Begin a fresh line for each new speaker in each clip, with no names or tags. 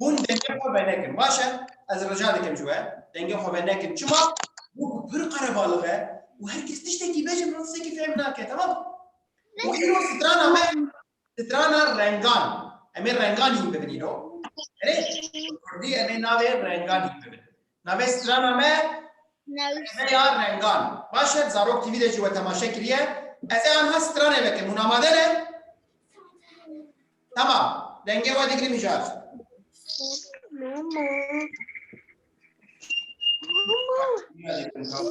Hûn dengê xwe venekin. Baş e, ez rica dikim ji we, dengê xwe venekin. Çima? Bo ku pir qerebalix e û her kes tiştekî be jî min tiştekî fêm nake, temam? Û îro strana me strana rengan. Em ê renganîn bibin îro. Erê, bi kurdî em ê navê renganîn bibin. Navê strana me Newsî. Emeya Rengan. Baş e, bi Zarok TV de jî we temaşe kiriye. Ez ê anha stranê vekim. Hûn amade ne? Tamam. Dengê we digirim îcar. Mama. Mama.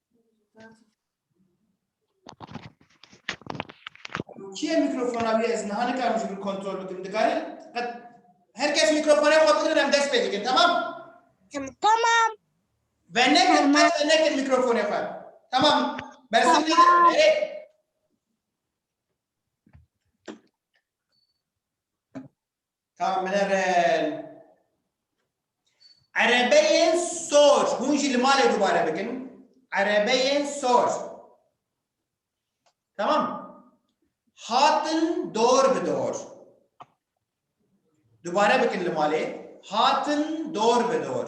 Çiye mikrofona bir ez niha nikarim ji bir kontrol bikim. Dikarim qet herkes mikrofona xwe bigrin em dest pê dikin tamam? Tamam. Ve nekin qet ve nekin mikrofona xwe. Tamam. Bersin nekin. Erê. Ka min e ren. Erebeyên sor. Hûn jî li malê dubare bikin. Erebeyên sor. Tamam. Hatin dor bi dor. Dubare bikin li malê. Hatin dor bi dor.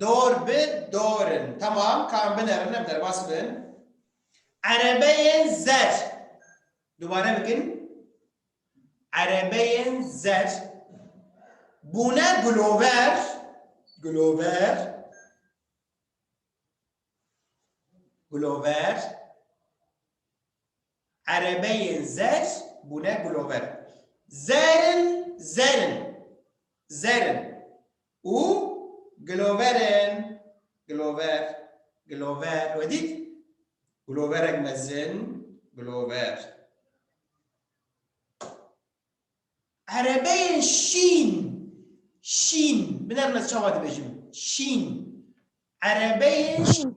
Dor bi dorin. Tamam. Kan binerin em derbas bin. Erebeyên zer. Dubare bikin. Erebeyên zer. Bûne gulover. Gulover. Gulover. Erebeyên zer bûne gulover. Zer in, zer in. Zer in. Û gulover in. Gulover. Gulover. We dît? Guloverek mezin, gulover. Erebeyên şîn. Şîn. Binerm ez çawa dibêjim. Şîn. Erebeyên şîn.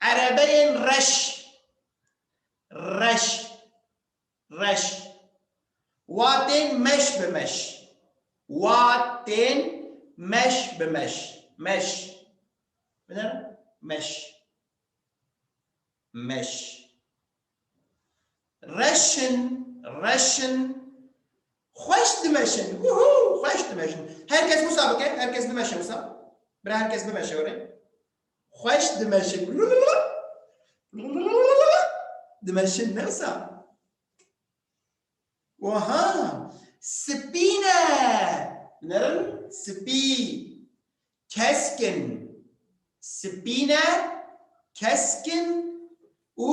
Erebeyên reş, reş, reş, wa tên meş bi meş, wa tên meş bi meş, meş, bidin, meş, meş, reşin, reşin, xweş dimeşin, wûhû, xweş dimeşin, her kes wisa bike, her kes bimeşe wisa, bira her kes bimeşe were. Xweş dimeşin dimeşin ne wisa? Oha spî ne nerin spî keskin spî ne keskin û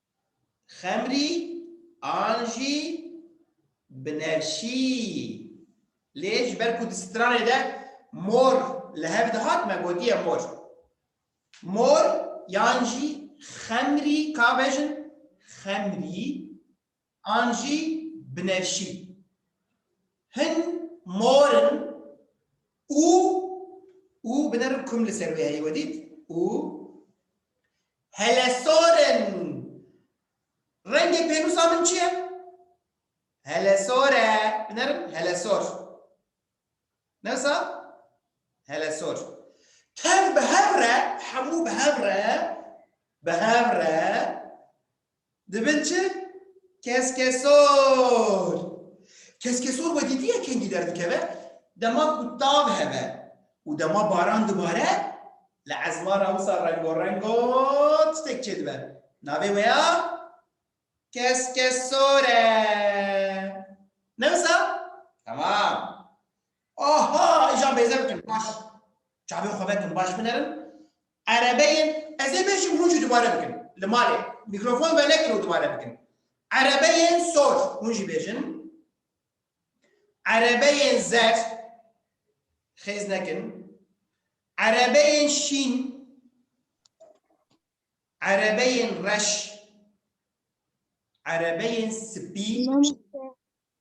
xemrî an jî binefşî. Lê ji ber ku di stranê de mor li hev dihat me gotiye mor. Mor yan jî xemrî ka bejin xemrî an jî binevşî. Hin mor in û û binevin kum li ser wê heye we dît û helesor in. Rengê pênûsa min çi ye? Helesor e. Binevin helesor. Ne wisa? Helesor. Tev bi hev re, hemû bi hev re, bi hev re Dibin çi? Keskesor. Keskesor we dîtiye kengî derdikeve? Dema ku tav heve û dema baran dibare li ezma re wisa rengorengo tiştek çêdibe. Navê we ya keskesor e. Ne wisa? Temam. Aha îcar bêze bikin baş çavên xwe vekin baş binerin erebeyên ez ê bêjim hûn jî dubare bikin li malê mîkrofon venekin û dubare bikin erebeyên sor hûn jî bêjin erebeyên zer xêz nekin erebeyên şîn erebeyên reş erebeyên spî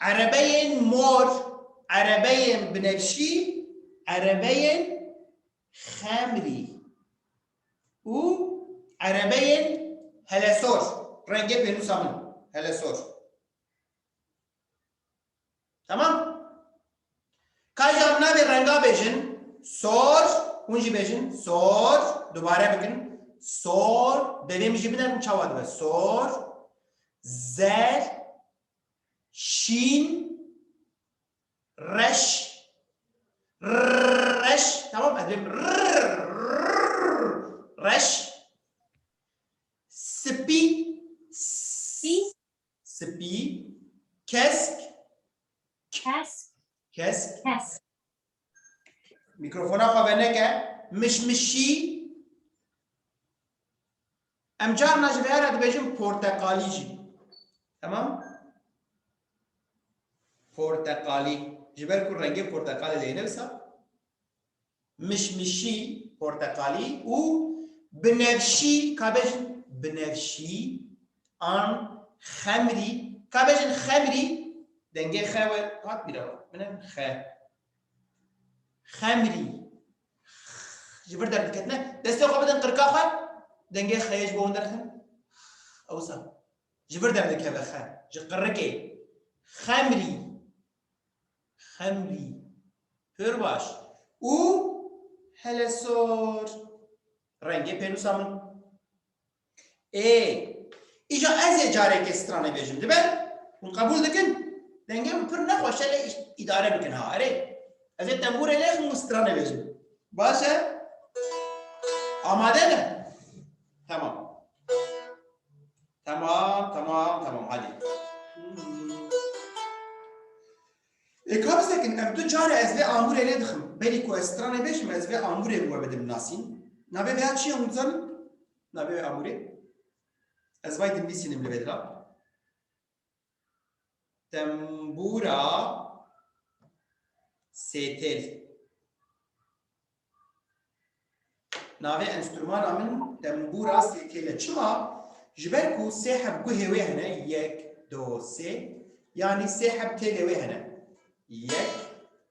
Erebeyên mor, erebeyên binefşî, erebeyên xemrî û erebeyên helesor, rengê pênûsa min, helesor. Tamam? Ka ji amnavê renga bêjin sor, hûn jî bêjin sor, dubare bikin sor, devê min jî binerin çawa dibe sor, zer, şîn, reş, reş, tamam ez bêm reş, spî, spî, Spî, kesk, Kesk, kesk. kesk, Mikrofona xwe veneke. Mişmişî. Em carna ji vê here dibêjin porteqalî jî. Temam? Porteqalî. Ji ber ku rengê porteqalê lê ne wisa? mişmişî, porteqalî û binevşî, kabejîn binevşî an xemrî, kabejîn xemrî, dengê xe we hat bîra we, min e xe, xemrî, ji vir derdiketine, destê xwe bidin qirka xwe, dengê xeyê ji bo hûn derxin, ewsa ji vir derdikeve xe, ji qirikê, xemrî, Xemlî. Pir baş. Û hele sor. Rengê pênûsa min. Ê. Îja ez ê careke stranê bêjim. Dibe? Hûn qebûl dikin? Dengê min pir nexweş e lê îdare bikin ha. Erê. Ez ê tembûrê lêxim û stranê bêjim. Baş e? Amade me? Temam. Temam temam temam hadî. Ê ka bisekin ev du care ez vê amûrê nedixim. Berî ku ez stranê bêjim ez vê amûrê bi we bidim nasîn. Navê vêya çi ye hûn dizanin? Navê vê amûrê? Ez vay dinvîsînim li vê dira. Tembûra sêtêl. Navê enstrûmana min tembûra sêtêl e. Çima? Ji ber ku sê heb guhê wê hene yek, do, sê. Yanî sê heb têlê wê hene. Yek,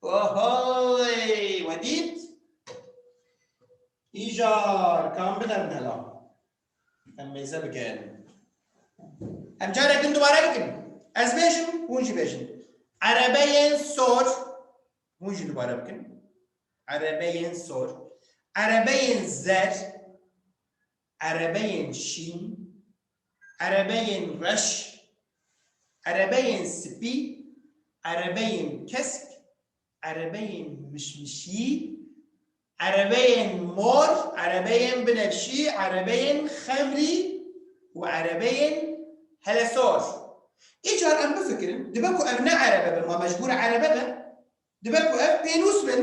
Ohoyy! We dît? Îcar, kam bidem mela. Em mêze bikin. Em carek din dubare bikin. Ez bêjim, hûn jî bêjin. Erebeyên sor, hûn jî dubare bikin. Erebeyên sor. Erebeyên zer, Erebeyên şîn, erebeyên reş, erebeyên spî, erebeyên kesk, erebeyên mişmişî, erebeyên mor, erebeyên binefşî, erebeyên xemrî û erebeyên helesor. Îcar em bifikirin, dibe ku ev ne erebe bin, ma mecbûr erebe be, dibe ku ev pênûs bin.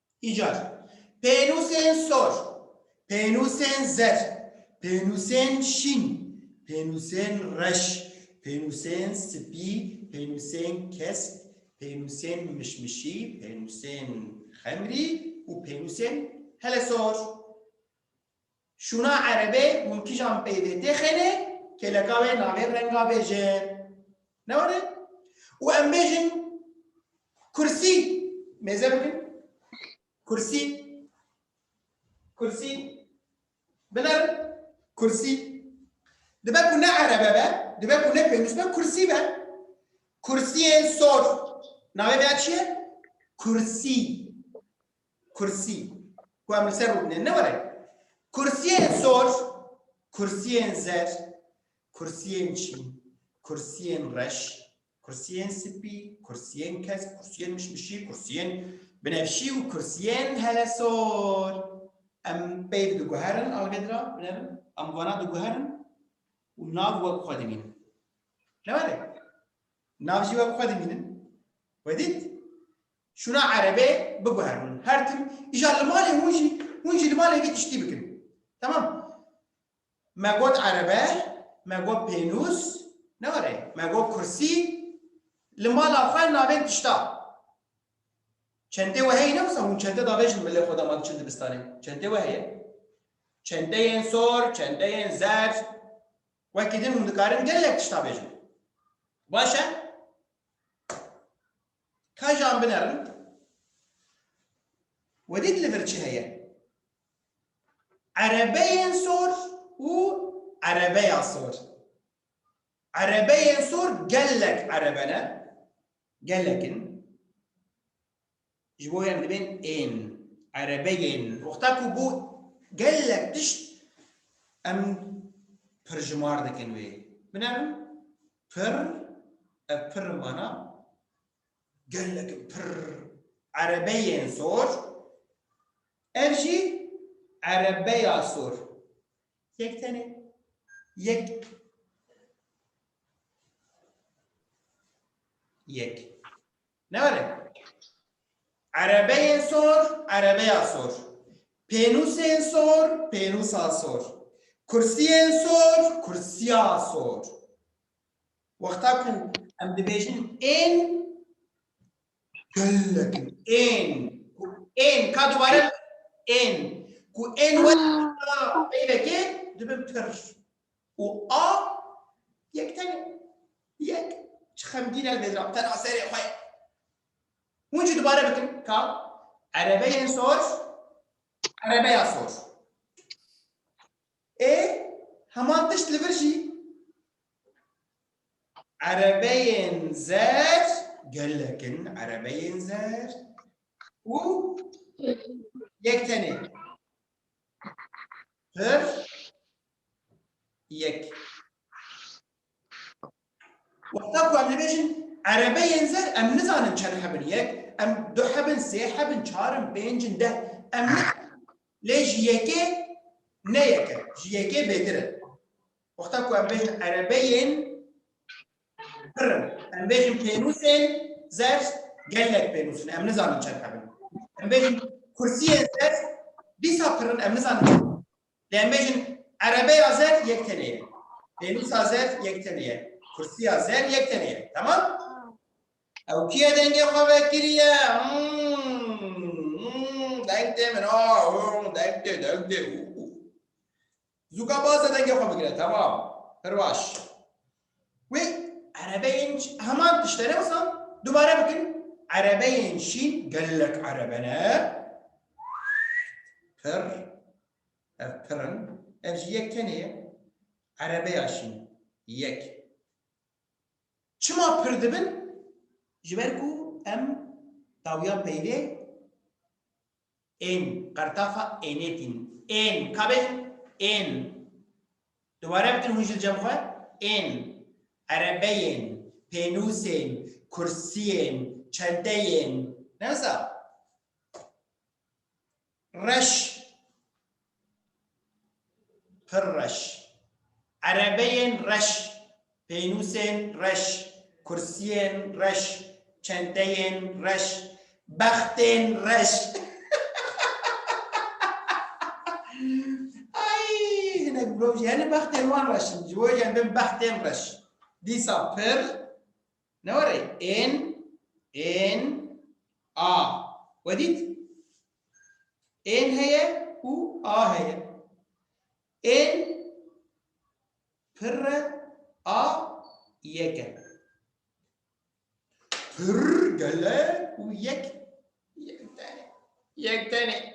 Îcar, pênûsên sor, pênûsên zer, pênûsên şîn, pênûsên reş, pênûsên spî, pênûsên kesk, pênûsên mişmişî, pênûsên xemrî û pênûsên helesor. Şûna erebê hûn kîjan peyvê tê xênê kêleka wê navê renga bêjin. Ne were? Û em bêjin kursî mêze bikin. Kursî. Kursî. Binerin. Kursî. Dibe ku ne erebe be, dibe ku ne pênûs be, kursî be. Kursiyê sor. Navê vê ya çi ye? Kursî. Kursî ku em li ser rû bine ne were. Kursiyên sor, kursiyên zer, kursiyên çîn, kursiyên reş, kursiyên sipî, kursiyên kesk, kursiyên mişmişî, kursiyên binefşî û kursiyên helesor. Em peyv diguherin algedra binevin, em vana diguherin û nav wek xwe dimînin. Ne were. Nav jî wek xwe dimînin. Wedît? Şûna erebê biguher hûn her tim îja li malê hûn jî hûn jî li malê vî tiştî bikin. Temam. Me got erebe, me got pênûs, newere, me got kursî, li mala xwe navên tişta. Çentê we heye ne wisa hûn çente davêjin milê xwe de ma diçin dibistanê. Çentê we heye. Çenteyên sor, çenteyên zerr wekî din hûn dikarin gelek tişt avêjin. Baş e? Ka ji an binerin Wedî di li vir çi heye? Erebeyên sor û erebeya sor. Erebeyên sor gelek erebe ne, gelek in. Ji bo em dibên ên, erebeyên. Wexta ku bû gelek tişt em pirjimar dikin wê. Binerin. Pirr, ev pirr mana gelek in pirr erebeyên sor, ev jî erebeya sor. Yek tenê yek yek. Nare. Erebeyên sor, erebeya sor. Pênûsên sor, pênûsa sor. Kursiyên sor, kursiya sor. Wexta ku em dibêjin ên gelek in. Ên. Ku ên ka dubare ên. Ku ên were peyvekê dibin pir. Û a yek tene yek çi xemgîn e li mêzra tena serê xwe ye. Hûn jî dubare bikin ka erebeyên sor erebeya sor ê heman tişt li vir jî erebeyên zer gelek in erebeyên zer û yek tenê pir yek. Wexta ku em dibêjin erebeyên zer em nizanin çend hebin yek, em du hebin, sê hebin, çar in, pênc in, deh em lê ji yekê ne yek e, ji yekê bêtir e. Wexta ku em bêjin erebeyên pir in, em bêjin pênûsên zer gelek pênûs in, em nizanin çend hebin. Em bêjin kursiyên zer dîsa pir in, em nizanin çend hebin. Lê em bêjin erebeya zer yek tenê ye, pênûsa zer yek tenê ye, kursîya zer yek tenê ye. Temam? Ew kî ye dengê xwe vekiriye? Deng tê min a, deng tê, deng tê. Zûka baz e dengê xwe bigire. Temam. Pir baş. Wê erebeyên heman tişte ne wisa dubare bikin. Erebeyên şîn gelek erebe ne. Pir. Ev pir in. Ev jî yek tenê ye. Erebeya şîn. Yek. Çima pir dibin? Ji ber ku em dawiya peynê Ên, qertafa ênê tîn. Ên, ka bê jin? Ên, dubare bikin hûn jil cem xwe? Ên, erebeyên, pênûsên, kursiyên, çenteyên, ne wisa? Reş, Pir reş. Erebeyên reş, pênûsên reş, kursiyên reş, çenteyên reş, bextên reş. Ay, hinek mirov jî hene bextên wan reş in. Ji bo jî em bin bextên reş. Dîsa pir ne were ên ên a. We dît? Ên heye û a heye. Ên pirre a yek e. Pirr gele û yek yek tane. Yek tane.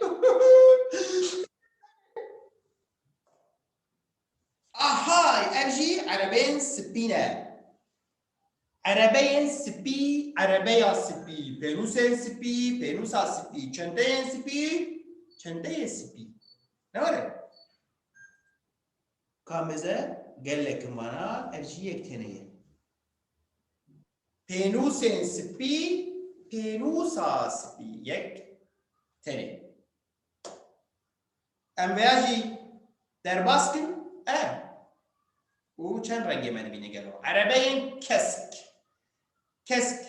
Ahay ev jî erebên spî ne. Erebeyên sipî, erebeya sipî, pênûsên sipî, pênûsa sipî, çenteyên sipî, çenteyê sipî. Ne were? Ka meze gelekin vana ev jî yek têne ye. Pênûsên sipî, pênûsa sipî yek tenê. Em vêya jî derbas kin e û çend rengê me dibîne gelo? Erebe yên kesk. Kesk.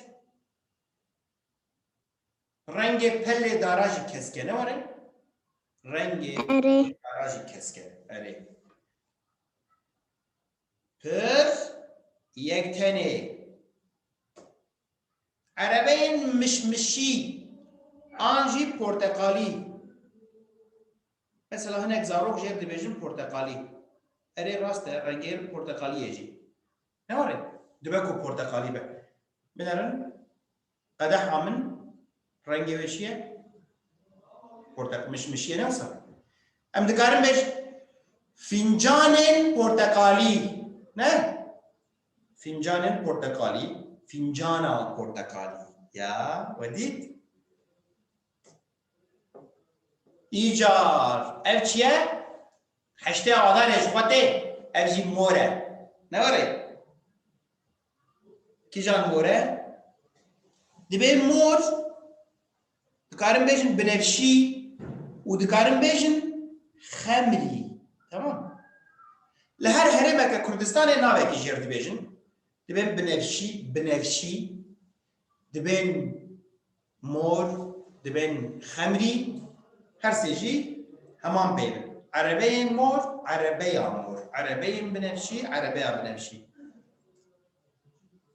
Rengê pelê dara jî kesk e ne were? Rengê Erê. dara jî kesk e. Erê. Pir yek tenê Erebeyên mişmişî an jî porteqalî. Mesela hinek zarok jê dibêjin porteqalî. Erê rast e rengê porteqalî ye jî. Ne were? Dibe ku porteqalî be. Binerin qedeha min rengê wê çi ye? Porteq mişmişî ye ne wisa? Em dikarin bêjin fincanên porteqalî. Ne? Fîncanên porteqalî, fîncana porteqalî ya we dît. Îcar, ev çi ye? Heştê adarê ji xwe tê, ev jî mor e. Ne were? Kîjan mor e? Divê mor Dikarim bêjin binefşî û dikarim bêjin xemlî. Temam. Li her herêmeke Kurdistanê navekî jêr dibêjin. Dibên binefşî, binefşî, dibên mor, dibên xemlî, her sê jî heman pey bin. Erebeyên mor, erebeya mor, erebeyên binefşî, erebeya binefşî.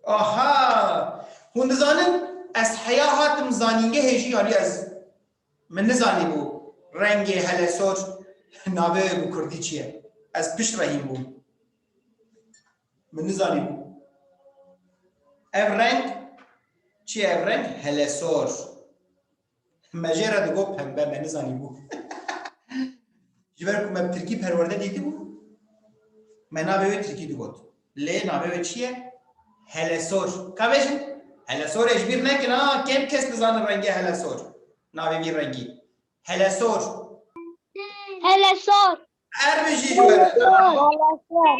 Aha! Hûn dizanin ez heya hatim zanîngehê jî yanî ez min nizanîbû rengê helesor navê bi kurdî çi ye. Ez pişt re hîn bûm. Min nizanîbû. Ev reng çi ye ev reng? Helesor. Me jê re digot pembe me nizanîbû. Ji ber ku me bi tirkî perwerde dîtibû me navê wê tirkî digot. Lê navê wê çi ye? Helesor. Ka bêjin? Helesor ê ji bîr nekin ha kêm kes dizanin rengê helesor. Navê vî rengî. Helesor. Helesor. Her bijî ji we re.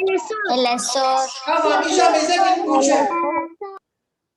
Helesor. Helesor. Ka vatîşa mêzekin û çi?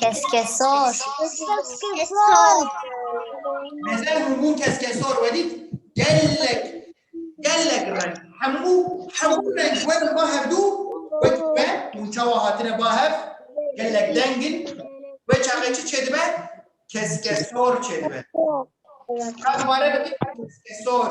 Keskesor. Mezar hemû keskesor welî gelek gelek reng hemû hemû reng wek ba hevdû wek me û çawa hatine ba hev gelek dengin we çaxê çi çêdibe keskesor çêdibe. Ka dubare bikî keskesor.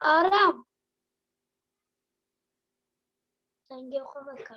Aram. Dengê xwe veke.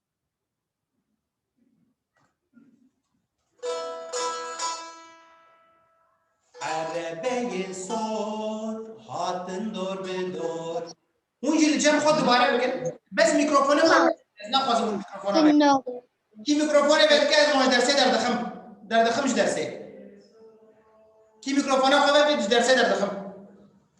Erebeyê sor hatin dor bi dor. Hûn jî li cem xwe dubare bikin. Bes mîkrofonê xwe ez naxwazim hûn mîkrofona bê. No. Kî mîkrofonê vedike ez wan ji dersê derdixim. Derdixim ji dersê. Kî mîkrofona xwe vekê ji dersê derdixim.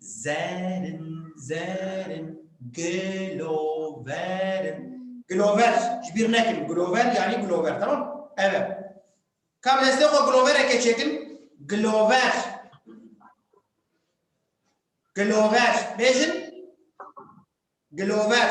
Zerin, zerin, gloverin. Glover, ji bîr nekin. Glover yanî glover, tamam? Ev e. Ka bi destê xwe glovereke çêkin. Glover. Glover. Bêjin. Glover.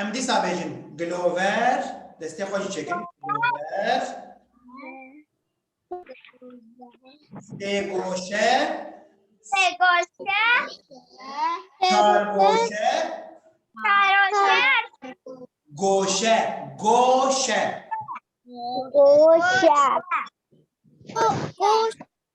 Em dîsa bêjin Glover, destê xwe jî çêkin. Glover, sêgoşe, Segoşe, kargoşe, karoşe, goşe, goşe. Goşe.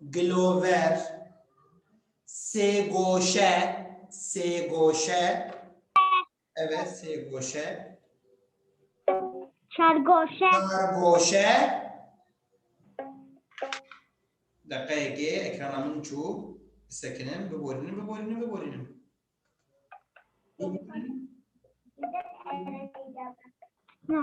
Gilover, sêgoşe, sêgoşe. Evet, sêgoşe. Çargoşe. Çargoşe. Dakikayekê ekrana min çû. Bisekinin, biborînin, biborînin, biborînin. Biborînin. No.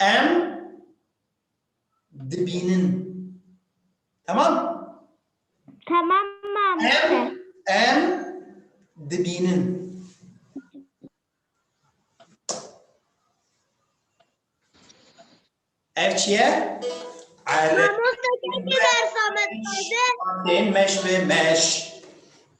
Em dibînin. Temam? Tamam mamoste. Em em dibînin. Ev çi ye? Erê. Mamoste keşke ders Ahmet Gazi. Meş ve meş.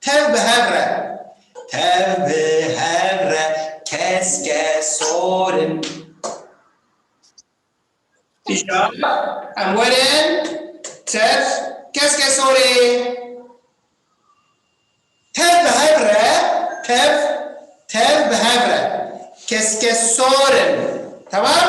Tev bi hev re. Tev bi hev re keske sor in. Îşa, em werin. Tev keske sor ê. Tev bi hev re, tev, tev bi hev re keske sor in. Temam?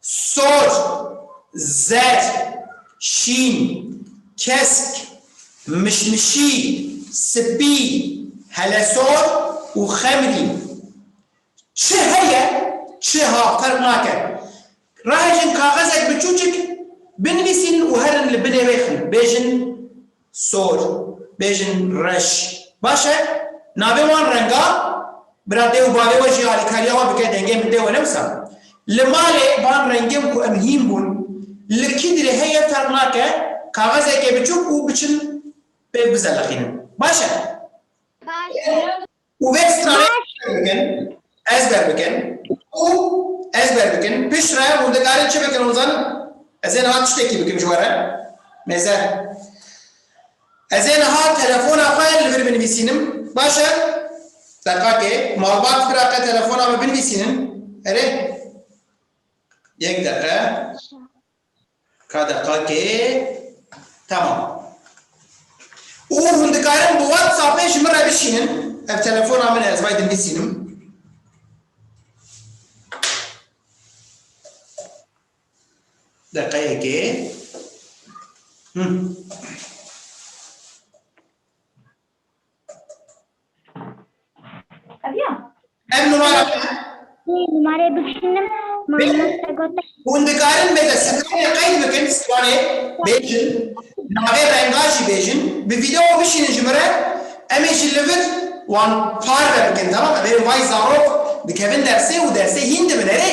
Sor, zer, şîn, kesk, mişmişî, spî, helesor û xemrî. Çi heye çi ha ferq nake. Rahêjin kaxezek biçûçik binivîsîn û herin li binê wê xin bêjin. Sor, bêjin reş. Baş e, navê wan renga, bira dê û bavê we jî alîkariya we bike dengê min dê we ne wisa. Li malê van rengên ku em hîn bûn, li kî dirê heye ferq nake, kaxezekê biçûk û biçin pêk bizeliqînin. Baş e? Baş e. û vê stranê bikin, ez derbikin û ez derbikin pişt re hûn dikarin çi bikin hûn zanin? Ez ê niha tiştekî bikim ji we re? Nêzer, Ez ê niha telefona xwe li vir binivîsînim, baş e? Deqakê, Malbat biraqe telefona min binivîsînin, erê? Yek deqe. Ka deqakê temam. Û hûn dikarin bi WhatsAppê ji min re bişînin, ev telefona min e ez bay dinivîsînim. Deqeyekê. Hûn. Ev ya. Ev numara me. Wê numareyê bikişînim. Mamoste gote. Hûn dikarin bê te stranê qeyd bikin, stranê bêjin, navê renga jî bêjin, bi vîdeo bişînin ji min re, em ê ji li vir wan parve bikin, temam e. Bêrî vay zarok dikevin dersê û dersê hîn dibin erê.